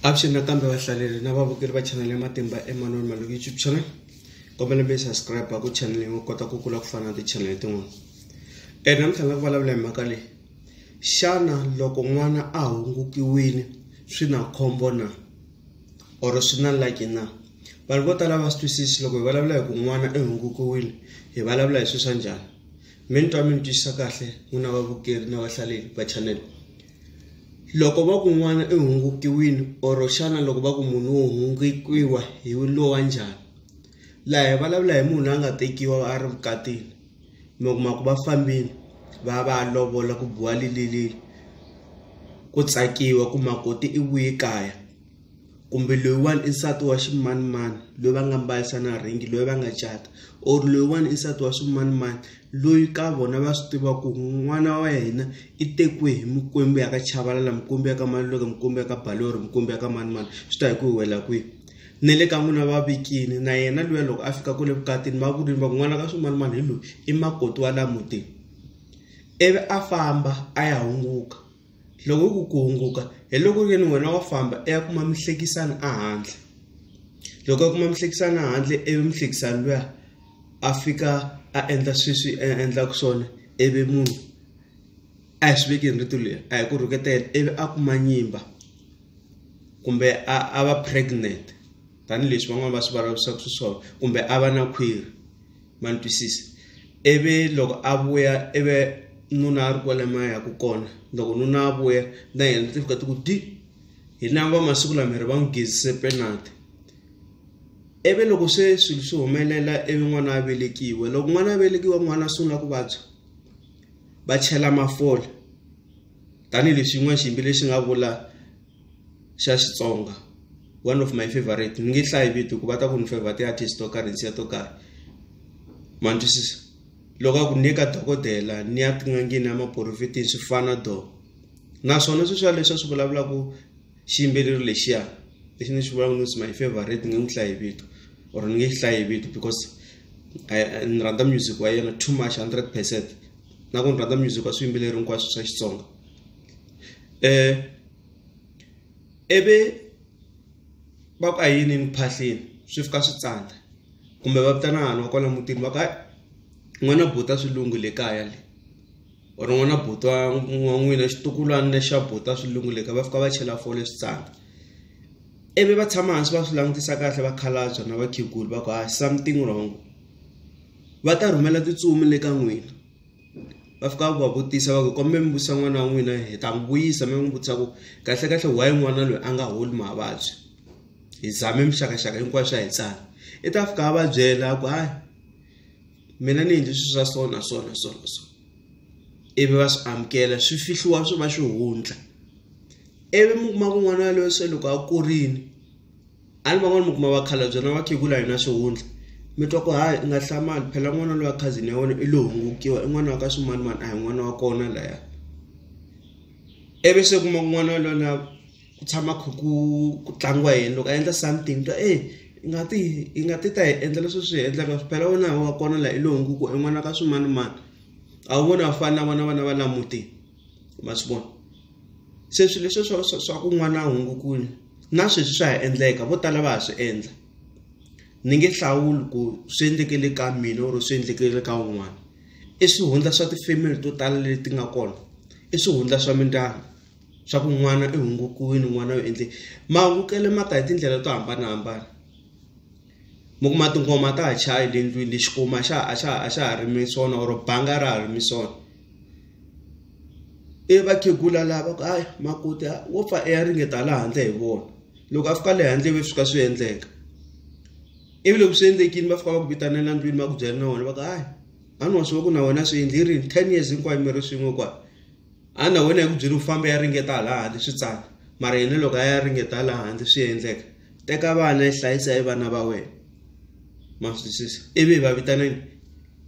avuxeni nakambe vahlaleli na vavukeli va chanel ya matimba emanoni maloko youtube channel kombela mi subscribe ku chanel yin'we kota ku kula ku fana na tichanele tin'wana e namuntlha nga ku vulavula hi mhaka leyi xana loko n'wana a hungukiwile swi na khombo na or swi na laki na vanhu vo tala va swi twisisi loko hi vulavula hi ku n'wana i hungukiwile hi vulavula hi swi swa njhani mi ni twa mi ni twisisa kahle n'wina vavukeri na vahlaleli va chanel Loko va ku n'wana i hungukewile or xana loko va ku munhu wo hungukiwa hi lowa njhani laha hi vulavula hi munhu a nga tekiwa a ri vukatini mi kuma ku va fambile va ya va ya lovola ku biwa ku tsakiwa ku makoti i vuye kaya. kumbe loyiwani i nsati wa ximanimani loyi va nga mbarisa na rhingi loyi va nga cata or loyiwani i nsati wa swimanimani loyi ka vona va swi tiva ku n'wana wa yena i tekiwe hi mikwembu ya ka chavalala mikwembu ya ka maluleka mikwembu ya ka balori mikwembu ya ka manimani swi ta hi ku hi wela kwihi ni le ka n'wina va vikini na yena luya loko a fika kule vukatini va vurini va ku n'wana ka swimanimani hi loyi i makoti wa la mutini ivi a famba a ya hunguka loko yi ku ku hunguka hi loko ku ri wena wa famba i ya kuma muhlekisani a handle loko a kuma muhlekisani a handle ivi muhlekisani luya a fika a endla sweswi a endlaka swona ivi munhu a hi swi veki hi rito leri a hi ku rhuketela ivi a kuma nyimba kumbe a a va pregnant. tanihileswi van'wana va swi vulavurisaka xiswona kumbe a va na khwiri ma ni twisisa ivi loko a vuya ivi nuna a ri kwale ma yaka kona loko nuna a vuya na yena ti fika ti ku di hi lava va masiku lama hi ri va n'wi gezise penalty ivi loko se swilo swi humelela ivi n'wana a velekiwe loko n'wana a velekiwa n'wana a sungula ku vabya va chela mafole tanihileswi yin'wana xiyimbeleri xi nga vula xa Xitsonga one of my favorite ni nge hlayi vito ku va ta ku ni favorite ti-artist to karhi nsiya to karhi ma ni twisisa loko a ku ni ye ka dokodela ni ya tin'angeni ya maporofetini swi fana do naswona swi swa leswi a swi vulavulaku xiyimbeleri lexiya lexi ni xi vulaka ni ku it's my favorite ni nge n'wi hlayi vito or ni nge xi hlayi vito because ni rhandza music wa yena too much hundred percent na ku ni rhandza music wa swiyimbeleri hinkwaswo swa Xitsonga. eh ivi va ku a hi yinini ku phahleni swi fika swi tsandza kumbe va vitana vanhu va kwala mutini va ku hayi n'wana buta swilungu le kaya le or n'wana buti wa wa n'wina xitukulwana lexi xa buta swilungu le kaya va fika va chela fole swi tsandza ivi va tshama hansi va swi langutisa kahle vakhalabya na vakhegula va ku hayi something wrong va ta rhumela tintsumi le ka n'wina. va fika va vutisa va ku komba mi vutisa n'wana wa n'wina hi ta n'wi vuyisa mi n'wi vutisa ku kahle kahle why n'wana loyi a nga holi mavabyi hi zame mixakaxaka hinkwayo swa hi tsana i ta fika a va byela ku hayi mina ni endli swilo swa so na so na so na so ivi va swi amukela swi fihliwa swi va xihundla ivi mi kuma kun'wana loyi se loko a kurile. A ni van'wani mi kuma vakhalabye na vakhegula a hi na xihundla mi twa ku ha i nga hlamali phela n'wana loyi wa cousin ya wena i lo hungukiwa i n'wana wa ka swimanimani a hi n'wana wa kona laya ivi se u kuma ku n'wana wa lwala ku tshama kha ku ku tlangiwa hi yena loko a endla something ni twa e i nga ti i nga ti ta hi endla leswi swi hi endlaka phela wena a hi wa kona la i lo hungukiwa i n'wana ka swimanimani a wu voni a wu fani na vona vana va la mutini. ma swi vona se swilo leswi swa swa swa ku n'wana hungu ku na sweswi swa ha endleka vo tala va ha swi endla ni nge hlawuli ku swi endlekele ka mina or swi endlekele ka un'wana i swihundla swa ti-family to tala leti nga kona i swihundla swa mindyangu swa ku n'wana i hungukiwile n'wana u endle mahungukele ma ta hi tindlela to hambanahambana. mi kuma tingoma ta ha chayi le ndlwini lexi kuma a xa a xa a xa ha ri mi swona or banga ra ha ri mi swona i vakhegula lava ku hayi makoti wo pfa i ya ringeta la handle hi vona loko a fika le handle ve fika swi endleka ivi loko swi endlekile va fika va ku vitanela ndlwini va ku byela na wena va ku hayi a ni wa swi va ku na wena swi endli yi ri ten years hinkwayo mi ri swin'we kwala. a na wena hi ku byeli u fambe ya ringeta hala handle swi tsaka mara yena loko a ya ringeta hala handle swi endleka teka vana yi hlayisa hi vana va wena ma swi twisisa ivi va vitanani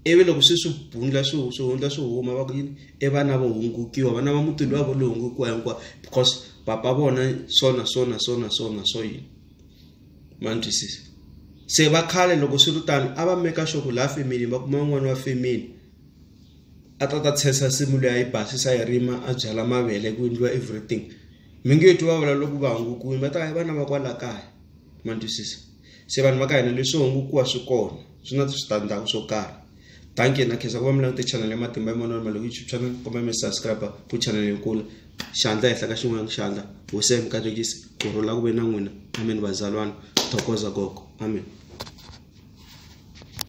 ivi loko swi swi bundla swi swi hundla swi huma va ku yini i vana vo hungukiwa vana va muti luwa vo lo hungukiwa hinkwawo because papa vona swona swona swona swona swo yini ma ni twisisa se va khale loko swi ri tano a va meka sure ku laha family va kuma un'wana wa family. a ta ta tshesa nsimu leyi a yi basisa yi rima a byala mavele ku endliwa everything mi nge twi va vula loko va hungukiwile va ta va vana va kwala kaya ma twisisa se vanhu va ka hina leswi hungukiwa swi kona swi na switandzhaku swo karhi thank you na khensa ku va mi langute channel ya matimba ya manwana mali youtube channel kumbe mi subscribe ku channel yo kula xandla ehenhla ka xin'wana xandla hosi ya mi katekisi ku rhula ku ve na n'wina amen vazalwana thokoza gogo amen